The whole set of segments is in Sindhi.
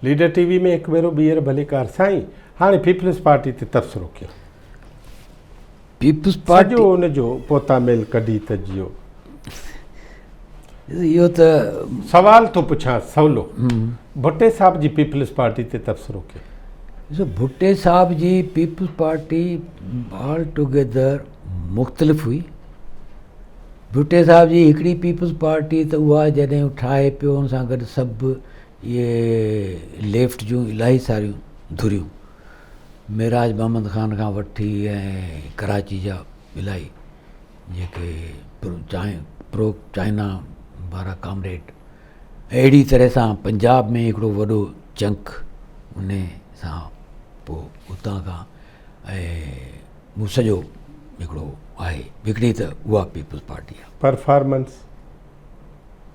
ليڊر ٽي وي ۾ هڪ ڀيرو ٻيهر ڀليڪار سائين هاڻي پيپلز پارٽي تي تبصرو ڪيو پيپلز پارٽي جو ان جو پوتا ميل ڪڍي ته جيو اهو ته سوال ٿو پڇان سولو ڀٽي صاحب جي پيپلز پارٽي تي تبصرو ڪيو ڏسو ڀٽي صاحب جي پيپلز پارٽي آل ٽوگيدر مختلف هئي. ڀٽي صاحب جي هڪڙي پيپلز پارٽي ته اها جڏهن ٺاهي پيو ان سان گڏ سڀ اهي ليفٽ جون الاهي ساريون ڌريون معراج محمد خان کان وٺي ۽ ڪراچي جا الاهي جيڪي پرو چائنا وارا ڪامريڊ اهڙي طرح سان پنجاب ۾ هڪڙو وڏو چنڪ ان سان پوء اتان کان ۽ مون سڄو هڪڙو آهي هڪڙي ته اها پيپلز پارٽي آهي. پرفارمنس.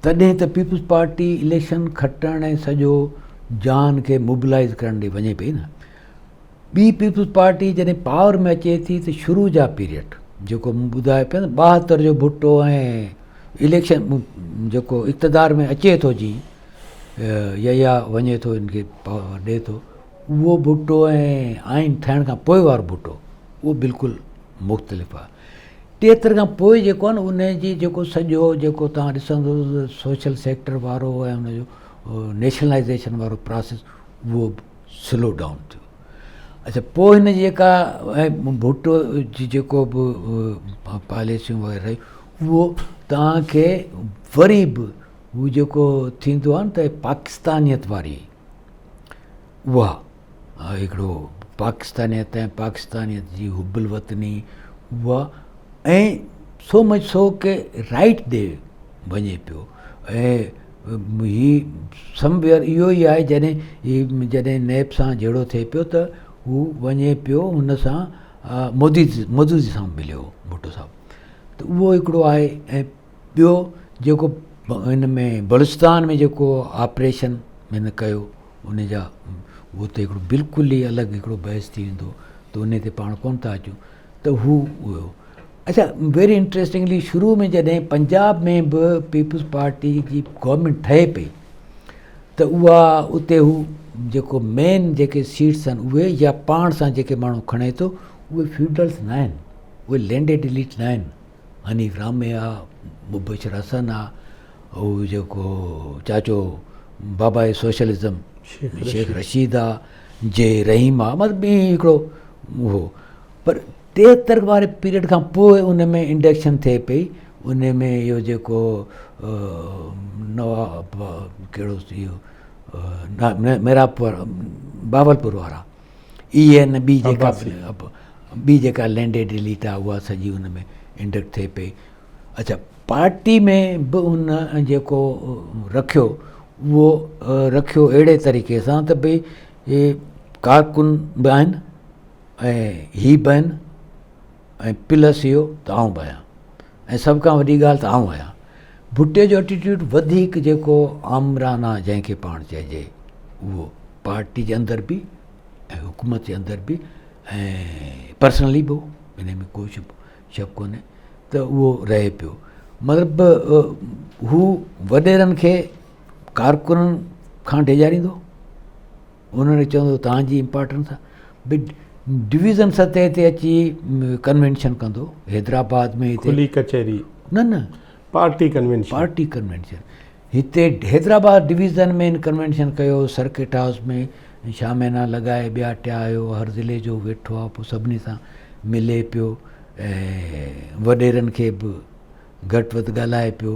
تڏهن ته پيپلز پارٽي اليڪشن کٽڻ ۽ سڄو جهان کي موبلائيز ڪرڻ ڏي وڃي پئي نه. ٻي پيپلز پارٽي جڏهن پاور ۾ اچي ٿي ته شروع جا پيريڊ جيڪو مون ٻڌايو پيو نه ٻاهتر جو ڀٽو ۽ اليڪشن جيڪو اقتدار ۾ اچي ٿو جي يا وڃي ٿو ان کي ڏي ٿو اهو ڀٽو ۽ آئين ٺهڻ کان پوء وارو ڀٽو اهو بلڪل مختلف آ ٽيهتر کان پوء جيڪو آ نه ان جي جيڪو سڄو جيڪو توهان ڏسندو سوشل سيڪٽر وارو ۽ ان جو نيشنلائزيشن وارو پراسيس اهو به سلو ڊائون ٿيو اچا پوء هن جي جيڪا ڀٽو جي جيڪو به پاليسيون وغيره رهي اهو توهان کي وري به هو جيڪو ٿيندو آ نه ته پاڪستانيت واري اها هڪڙو پاڪستانيت ۽ پاڪستانيت جي حب الوطني اها ۽ سو مچ سو ڪي رائيٽ ڏي وڃي پيو ۽ هي سم ويئر اهو ئي آهي جڏهن هي جڏهن نيب سان جهيڙو ٿئي پيو ته هو وڃي پيو هن سان مودي مودي جي سان مليو ڀٽو صاحب ته اهو هڪڙو آهي ۽ ٻيو جيڪو هن ۾ بلوچستان ۾ جيڪو آپريشن هن ڪيو ان جا هو ته هڪڙو بلڪل ئي الڳ هڪڙو بحث ٿي ويندو ته ان تي پاڻ ڪون ٿا اچون ته هو هيو اچا ويري انٽريسٽنگلي شروع ۾ جڏهن پنجاب ۾ به پيپلز پارٽي جي گورنمينٽ ٺهي پئي ته اها اتي هو جيڪو مين جيڪي سيٽس آهن اهي يا پاڻ سان جيڪي ماڻهو کڻي ٿو اهي فيوڊلس نه آهن اهي لينڊيڊ اليٽ نه آهن حنيف رامي آ، مبشر حسن آ، هو جيڪو چاچو بابائي سوشلزم شيخ رشيد آ، جي رحيم آ، مطلب ائين هڪڙو هو. پر ٽيهتر واري پيريڊ کان پوء ان ۾ انڊڪشن ٿئي پئي، ان ۾ اهو جيڪو نواب ڪهڙو سي اهو ميرا بهاولپور وارا. اي اين بي جيڪا بي جيڪا لينڊي ڊيليٽ آ اها سڄي ان ۾ انڊڪٽ ٿئي پئي اڇا پارٽي ۾ به ان جيڪو رکيو اهو رکيو اهڙي طريقي سان ته بي ڪارڪن به آهن ۽ هي به آهن ۽ پلس اهو ته آئون به آهيان ۽ سڀ کان وڏي ڳالهه ته آئون آهيان ڀٽي جو ائٽيٽيوڊ وڌيڪ جيڪو آمرانه جنهن کي پاڻ چئجي اهو پارٽي جي اندر به ۽ حڪومت جي اندر به ۽ پرسنلي به ان ۾ ڪو شڪ شڪ ڪونهي ته اهو رهي پيو مطلب هو وڏيرن کي ڪارڪنن کان ڊيڄاريندو انهن کي چوندو ته توهان جي امپارٽنس به ڊويزن سطح تي اچي ڪنوينشن ڪندو حيدرآباد ۾ هتي کلي ڪچهري نه نه پارٽي ڪنوينشن پارٽي ڪنوينشن هتي حيدرآباد ڊويزن ۾ ان ڪنوينشن ڪيو سرڪٽ هائوس ۾ شاهه مينا لڳائي ٻيا ٽيا آيو هر ضلعي جو ويٺو آهي پوء سڀني سان ملي پيو ۽ وڏيرن کي به گهٽ وڌ ڳالهائي پيو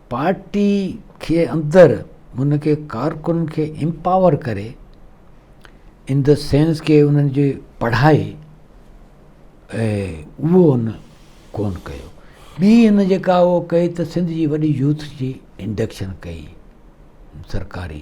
پارٽي کي اندر ان کي ڪارڪنن کي امپاور ڪري ان دي سينس ڪي انهن جي پڙهائي اهو ان ڪون ڪيو ٻي ان جيڪا اهو ڪئي ته سنڌ جي وڏي يوٿ جي انڊڪشن ڪئي سرڪاري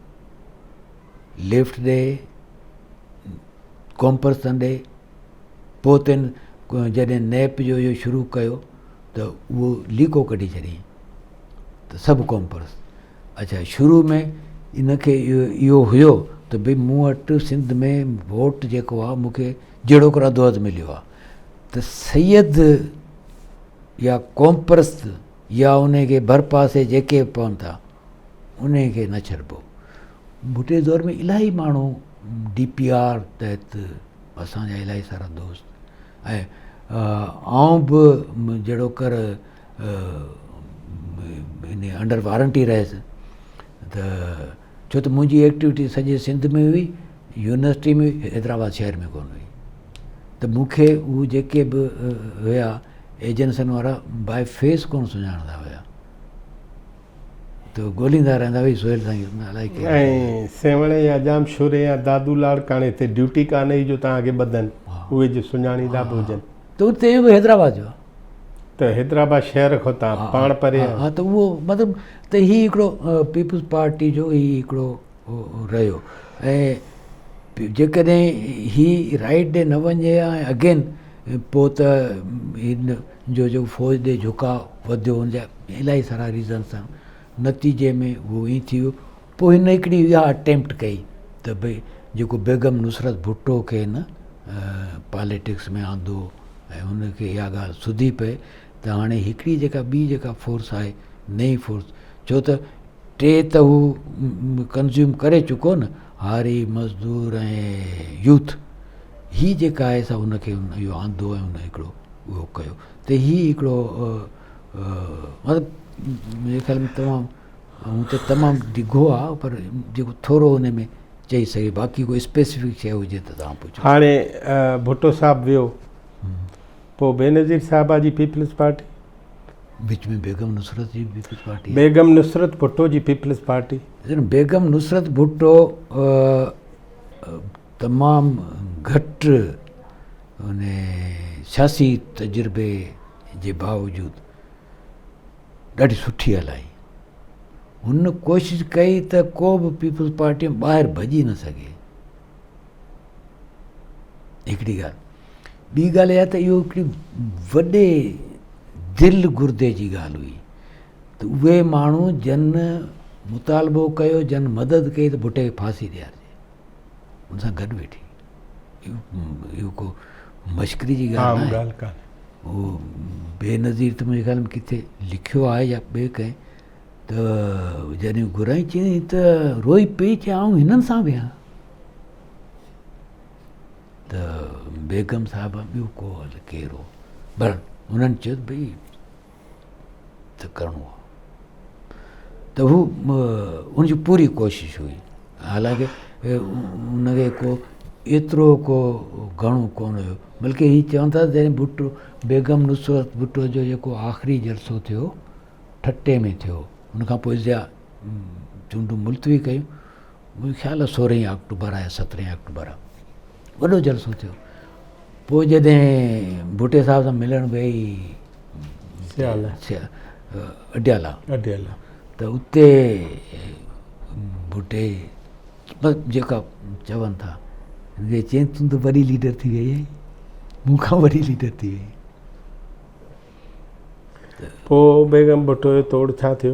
لفٽ ڏي ڪمپرسن ڏي پوء تن جڏهن نيپ جو اهو شروع ڪيو ته اهو ليڪو ڪڍي ڇڏيائين ته سڀ ڪمپرس اچھا شروع ۾ ان کي اهو هيو ته بھي مون وٽ سنڌ ۾ ووٽ جيڪو آهي مون کي جهڙوڪر اڌو اڌ مليو آهي ته سيد يا ڪمپرس يا انهي کي ڀرپاسي جيڪي به پون ٿا انهي کي نه ڇڏبو. ڀٽي دور ۾ الاهي ماڻهو ڊي پي آر تحت اسان جا الاهي سارا دوست ۽ آئون به جهڙوڪر انهي انڊر وارنٽي رهيس ته ڇو ته منهنجي ايڪٽيوٽي سڄي سنڌ ۾ هئي، يونيورسٽي ۾ هئي، حيدرآباد شهر ۾ ڪونه هئي ته مون کي اهي جيڪي به هيا ايجنسين وارا باء فيس ڪونه سڃاڻندا هيا ته ڳولهيندا رهندا هئي سهيل سائين الائي ڪير آهي. ۽ سيوهڻ يا ڄام شوري يا دادو لاڙڪاڻي تي ڊيوٽي ڪانه هئي جو توهان کي ٻڌن اهي جو سڃاڻيندا به هجن. ته اتي اهو به حيدرآباد جو آهي. ته حيدرآباد شهر کان تان پاڻ پري آهي ها ته اهو مطلب ته هي هڪڙو پيپلز پارٽي جو هي هڪڙو رهيو ۽ جيڪڏهن هي رائيٽ ڏي نه وڃي ها ۽ اگين پو ته هن جو جو فوج ڏي جهڪاء وڌيو هن جا الاهي سارا ريزنس آهن نتيجي ۾ اهو ائين ٿي ويو پوء هن هڪڙي اها اٽيمپٽ ڪئي ته ڀئي جيڪو بيگم نصرت ڀٽو کي نه پاليٽڪس ۾ آندو ۽ ان کي اها ڳالهه سڌي پئي ته هاڻي هڪڙي جيڪا ٻي جيڪا فورس آهي نئين فورس ڇو ته ٽي ته هو ڪنزيوم ڪري چڪو نه هاري مزدور ۽ يوٿ هي جيڪا آهي سا ان کي اهو آندو ۽ ان هڪڙو اهو ڪيو ته هي هڪڙو مطلب ميري خيال ۾ تمام هونئن ته تمام ڊگهو آ پر جيڪو ٿورو ان ۾ چئي سگهي باقي ڪو اسپيسفڪ شيء هجي ته توهان پڇو. هاڻي ڀٽو صاحب ويو پوء بينظير صاحبه جي پيپلز پارٽي. وچ ۾ بيگم نصرت جي پيپلز پارٽي آهي. بيگم نصرت ڀٽو جي پيپلز پارٽي. ڏسو بيگم نصرت ڀٽو تمام گهٽ ان سياسي تجربي جي باوجود ڏاڍي سٺي هلائي هن ڪوشش ڪئي ته ڪو به پيپلز پارٽي ۾ ٻاهر ڀڄي نه سگهي هڪڙي ڳالهه ٻي ڳالهه اها ته اهو هڪڙي وڏي دل گردي جي ڳالهه هئي ته اهي ماڻهو جن مطالبو ڪيو جن مدد ڪئي ته ڀٽي کي ڦاسي ڏيارجي ان سان گڏ ويٺي اهو ڪو مشڪري جي ڳالهه ناهي. عام ڳالهه ڪانهي. هو بينظير ته منهنجي خيال ۾ ڪٿي لکيو آهي يا ٻئي ڪنهن ته جڏهن گهرائين چيائين ته روئي پئي چي آئون هنن سان ويهان ته بيگم صاحبه ٻيو ڪو هل ڪير هو بهرحال هنن چيو ته ڀئي ته ڪرڻو هو ته هو ان جي پوري ڪوشش هئي حالانڪه ان کي ڪو ايترو ڪو گهڻو ڪون هيو بلڪه هي چون ٿا جڏهن ڀٽو بيگم نصرت ڀٽو جو جيڪو آخري جلسو ٿيو ٺٽي ۾ ٿيو ان کان پوء ضياء چونڊون ملتوي ڪيون منهنجو خيال آهي سورهين آڪٽوبر آهي سترهين آڪٽوبر آهي وڏو جلسو ٿيو پوء جڏهن ڀٽي صاحب سان ملڻ ويئي سيال اڊيالا اڊيالا ته اتي ڀٽي بس جيڪا چون ٿا چين تون ته وڏي ليڊر ٿي ويئي آهي مون کان وڏي ليڊر ٿي ويئي پوء بيگم ڀٽو جو توڙ ڇا ٿيو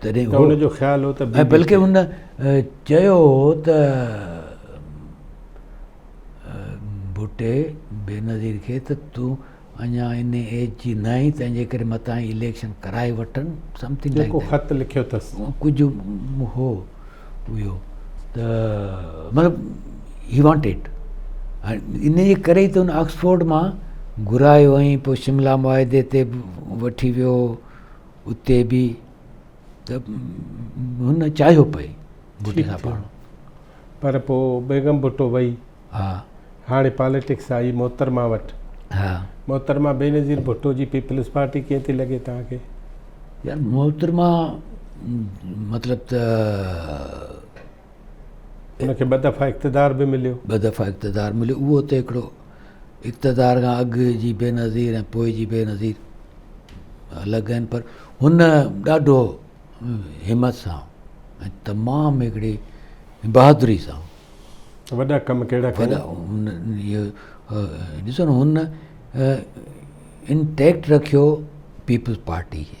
تڏهن هو جو خيال هو ته بلڪه هن چيو هو ته ڀٽي بينظير کي ته تون اڃا ان ايج جي نه آهين تنهنجي ڪري متان ئي اليڪشن ڪرائي وٺن سمٿنگ لائڪ ڪو خط لکيو اٿس ڪجهه هو اهو ته مطلب هي وانٽيڊ ان جي ڪري ئي ته هن آڪسفورڊ مان گهرايو ۽ پوء شملا معاهدي تي وٺي ويو اتي به ته هن چاهيو پئي ڀٽي سان پڙهڻ. پر پوء بيگم ڀٽو وئي. ها. هاڻي پاليٽڪس آئي محترمه وٽ. ها. محترمه بينظير ڀٽو جي پيپلز پارٽي ڪيئن ٿي لڳي توهان کي؟ يار محترمه مطلب ته ان کي ٻه دفعا اقتدار به مليو. ٻه دفعا اقتدار مليو اهو اتي هڪڙو اقتدار کان اڳ جي بينظير ۽ پوء جي بينظير الڳ آهن پر هن ڏاڍو همت سان ۽ تمام هڪڙي بهادري سان وڏا ڪم ڪهڙا ڪيا ڏسو نه هن انٽيڪٽ رکيو پيپلز پارٽي کي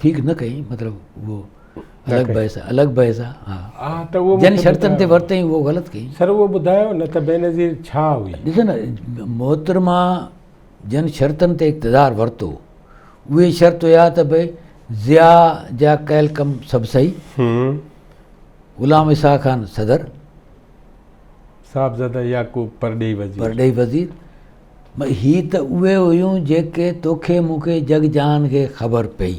ٺيڪ نه ڪئين مطلب اهو الڳ بحث آهي الڳ بحث آهي ها ها ته اهو جن شرطن تي ورتئين اهو غلط ڪئين سر اهو ٻڌايو نه ته بينظير ڇا هئي ڏسو نه محترمه جن شرطن تي اقتدار ورتو اهي شرط هيا ته بھي ضياء جا ڪيل ڪم سڀ صحيح غلام اسحاق خان صدر صاحبزاده يعقوب پرڏيهي وزير پرڏيهي وزير هي ته اهي هيون جيڪي توکي مون کي جڳ جهان کي خبر پئي.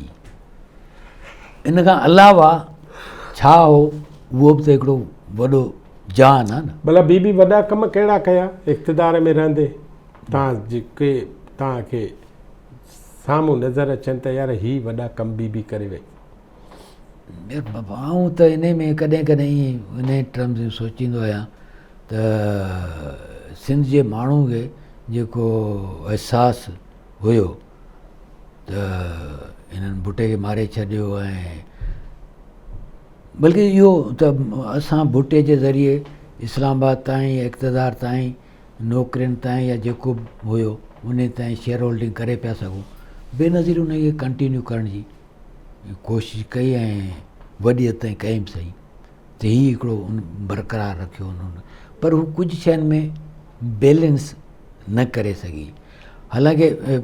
ان کان علاوه ڇا هو اهو به ته هڪڙو وڏو جهان آهي نه. ڀلا بي بي وڏا ڪم ڪهڙا ڪيا اقتدار ۾ رهندي توهان جيڪي توهان کي سامهون نظر اچن ته يار هي وڏا ڪم بي بي ڪري وئي. آئون ته انهي ۾ ڪڏهن ڪڏهن ائين انهي ٽرمز ۾ سوچيندو آهيان ته سنڌ جي ماڻهو کي جيڪو احساس هيو ته هنن ڀٽي کي ماري ڇڏيو ۽ بلڪه اهو ته اسان ڀٽي جي ذريعي اسلام آباد تائين اقتدار تائين نوڪرين تائين يا جيڪو به هيو انهي تائين شيئر هولڊنگ ڪري پيا سگهون بينظير انهي کي ڪنٽينيو ڪرڻ جي ڪوشش ڪئي ۽ وڏي حد تائين ڪئي به سهي ته هي هڪڙو برقرار رکيو انهن پر هو ڪجهه شين ۾ بيلنس نه ڪري سگهي حالانڪه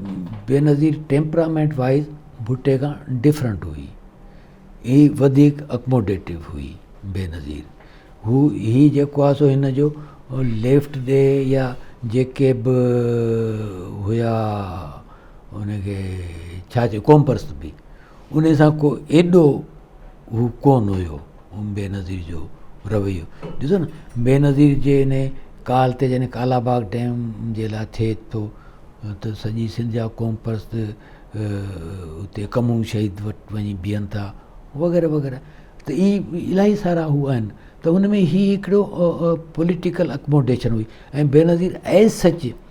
بينظير ٽيمپرامينٽ وائز ڀٽي کان ڊفرنٽ هئي هي وڌيڪ اڪموڊيٽو هئي بينظير هو هي جيڪو آهي سو هن جو ليفٽ ڏي يا جيڪي به هيا ان کي ڇا چئبو قوم پرست به ان سان ڪو ايڏو هو ڪون هيو بينظير جو رويو ڏسو نه بينظير جي ان ڪال تي جڏهن ڪالاباغ ڊيم جي لاء ٿئي ٿو ته سڄي سنڌ جا قوم پرست اتي ڪمون شهيد وٽ وڃي بيهن ٿا وغيره وغيره ته اي الاهي سارا هو آهن ته ان ۾ هي هڪڙو پوليٽيڪل اڪموڊيشن هئي ۽ بينظير ايز سچ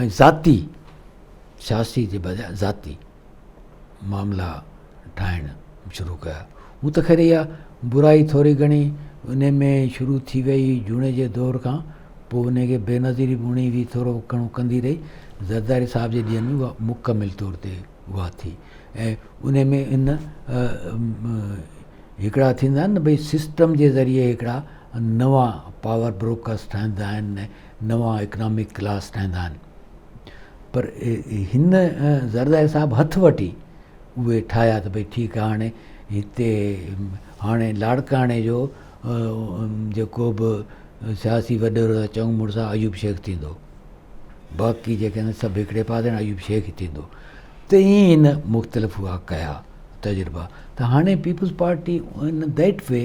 ۽ ذاتي سياسي جي بجاء ذاتي معاملا ٺاهڻ شروع ڪيا هو ته خير اها برائي ٿوري گهڻي ان ۾ شروع ٿي وئي جوڻيجي دور کان پوء ان کي بي نظيري به هڻي وئي ٿورو گهڻو ڪندي رهي زرداري صاحب جي ڏينهن ۾ اها مڪمل طور تي اها ٿي ۽ ان ۾ ان هڪڙا ٿيندا آهن نه ڀئي سسٽم جي ذريعي هڪڙا نوان پاور بروڪرز ٺهندا آهن، نوان اڪنامڪ ڪلاس ٺهندا آهن پر هن زرداري صاحب هٿ وٺي اهي ٺاهيا ته ڀئي ٺيڪ آهي هاڻي هتي هاڻي لاڙڪاڻي جو جيڪو به سياسي وڏيرو ٿا چئون مڙس ايوب شيخ ٿيندو باقي جيڪي آهن سڀ هڪڙي پاسي هاڻي ايوب شيخ ئي ٿيندو ته ائين هن مختلف هئا ڪيا تجربا ته هاڻي peoples party in that way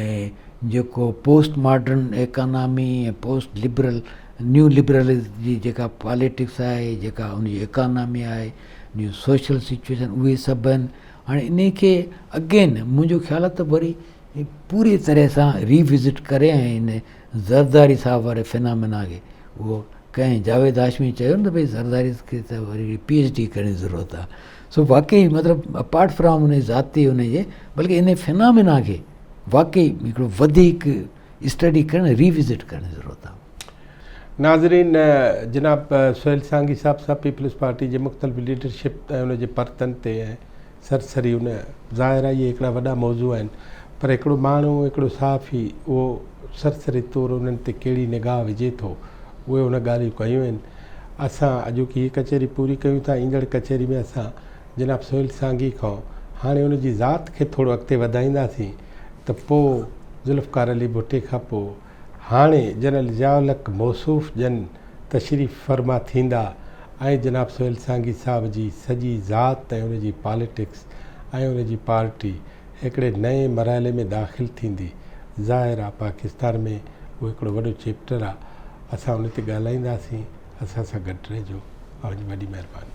۽ جيڪو post modern economy ۽ post liberal neo liberals جي جيڪا پاليٽڪس آهي جيڪا ان جي ايڪانامي آهي نيو سوشل سچويشن اهي سڀ آهن هاڻي انهي کي اگين منهنجو خيال آهي ته وري پوري طرح سان ري وزٽ ڪري ۽ ان زرداري صاحب واري فنامنا کي اهو ڪنهن جاويد هاشمي چيو نه ته ڀئي زرداري کي ته وري پي ايڇ ڊي ڪرڻ جي ضرورت آهي سو واقعي مطلب اپارٽ فرام ان ذاتي ان جي بلڪه ان فنامنا کي واقعي هڪڙو وڌيڪ اسٽڊي ڪرڻ ريوزٽ ڪرڻ جي ضرورت آهي ناظرين جناب سهيل سانگي صاحب سان پيپلز پارٽي جي مختلف ليڊرشپ ۽ ان جي پرتن تي سرسري ان ظاهر آهي اهي هڪڙا وڏا موضوع آهن پر هڪڙو ماڻهو هڪڙو صحافي اهو سرسري طور انهن تي ڪهڙي نگاهه وجهي ٿو اهي ان ڳالهيون ڪيون آهن اسان اڄوڪي هي ڪچهري پوري ڪيون ٿا، ايندڙ ڪچهري ۾ اسان جناب سهيل سانگي کان هاڻي ان جي ذات کي ٿورو اڳتي وڌائينداسين ته پوء ذوالفقار علي ڀٽي کان پوء هاڻي جنرل ضياء الحق موصوف جن تشريف فرما ٿيندا ۽ جناب سهيل سانگي صاحب جي سڄي ذات ۽ ان جي پاليٽڪس ۽ ان جي پارٽي هڪڙي نئين مرحلي ۾ داخل ٿيندي. ظاهر آ پاڪستان ۾ اهو هڪڙو وڏو چيپٽر آ اسان ان تي ڳالهائينداسين اسان سان گڏ رهجو اوهان جي وڏي مهرباني.